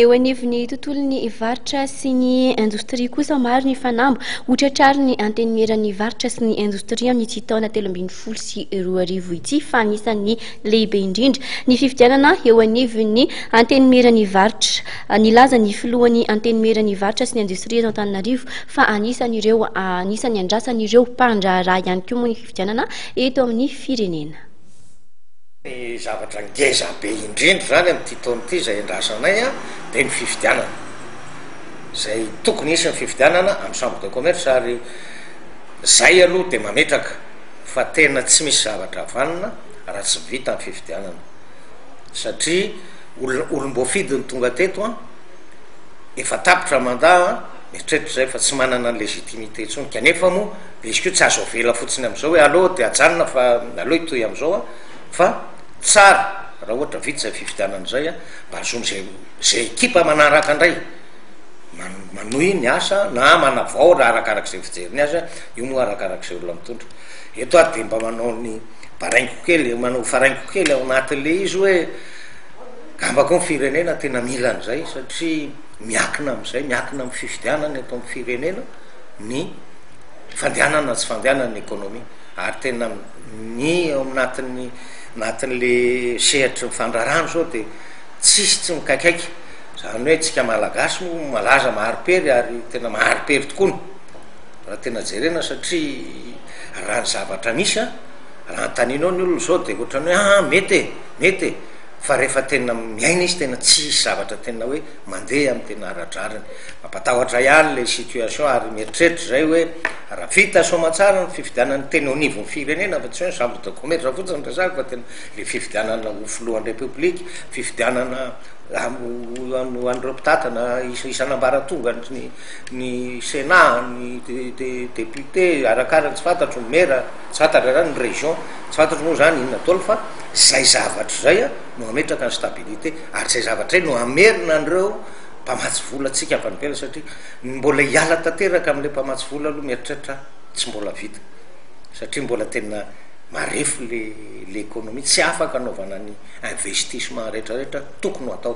Eo anivon'ny tontolon'ny varotra sy ny indostria kosa, maro ny fanamby ho tratrarin'ny Antenimieran'ny varotra sy ny indostria amin'ity taona telo ambin'ny folo sy roa arivo ity fa anisan'ny lehibe indrindra ny fifidianana eo anivon'ny Antenimieran'ny varotra. Nilaza ny filohan'ny Antenimieran'ny varotra sy ny indostria eto Antananarivo fa anisan'ireo anisan'ny andrasan'ireo mpandraharaha ihany koa moa ny fifidianana eto amin'ny firenena. Ny zavatra ngeza be indrindra izany amin'ity taona ity izay endrasanay dia ny fifidianana. Izay tokony hisy ny fifidianana amin'ny chambre de commerce ary izay aloha dia mametraka fa tena tsy misy zavatra vanona raha tsy vita ny fifidianana satria olona olom-boafidy no tonga teto an, efa tapitra mandat an, eritrereto izay fa tsy manana ny légitimité intsony kanefa moa. Dia izy koa tsy azo avela fotsiny amin'izao hoe aleo dia ajanona fa aleo hitohy amin'izao an! Fa tsara raha ohatra vita izay fifidianana izay an, mba hahazoan'izay izay ekipa manaraka indray man- manohy ny asa na manavao raha arakaraka izay fijeriny azy an, io moa arakaraka izay olona mitondra. Eto aho dia mba manao ny baraingo kely, manao faraingo kely ao anatin'ilay izy hoe angamba koa ny firenena tena mila an'izay satria miankina amin'izay, miankina amin'ny fifidianana eto amin'ny firenena ny. fandehanana tsy fandehanana ny ekonomia ary tena ny ao anatin'ny anatin'le sehatry ny fandrarana izao dia tsisy tsy mikaikaika izany hoe tsika malagasy moa malaza maharipery ary tena maharipery tokoa no raha tena jerena satria raha ny zavatra misy a raha antaninao ny olona izao dia ohatrany hoe ah mety e mety e fa rehefa tena miaina izy tena tsisy zavatra tena hoe mandeha amin'ny tena ara-drariny. Mampatahotra ihany ilay situation ary mieritreritra izay hoe raha vita soamantsara ny fifidianana teny au niveau firenena fa tsy hoe ny chambre de commerce fotsiny no resahako fa tena ilay fifidianana ho filohan'ny République, fifidianana ho an'ireo mpitantana isan'ambaratonga ny ny Sénat, ny député, arakaraka tsy fantatro ny maire, tsy fantatra izany ny région, tsy fantatro moa izany inona daholo fa izay zavatra izay a. no hametraka ny stabilité ary izay zavatra izay no hamerina an'ireo mpamatsy vola antsika avy any ivelany satria ny mbola hiala tanteraka amin'ilay mpamatsy vola aloha mieritreritra tsy mbola vita satria mbola tena marefo le le économie tsy afaka anaovana ny investissement rehetra rehetra tokony ho atao.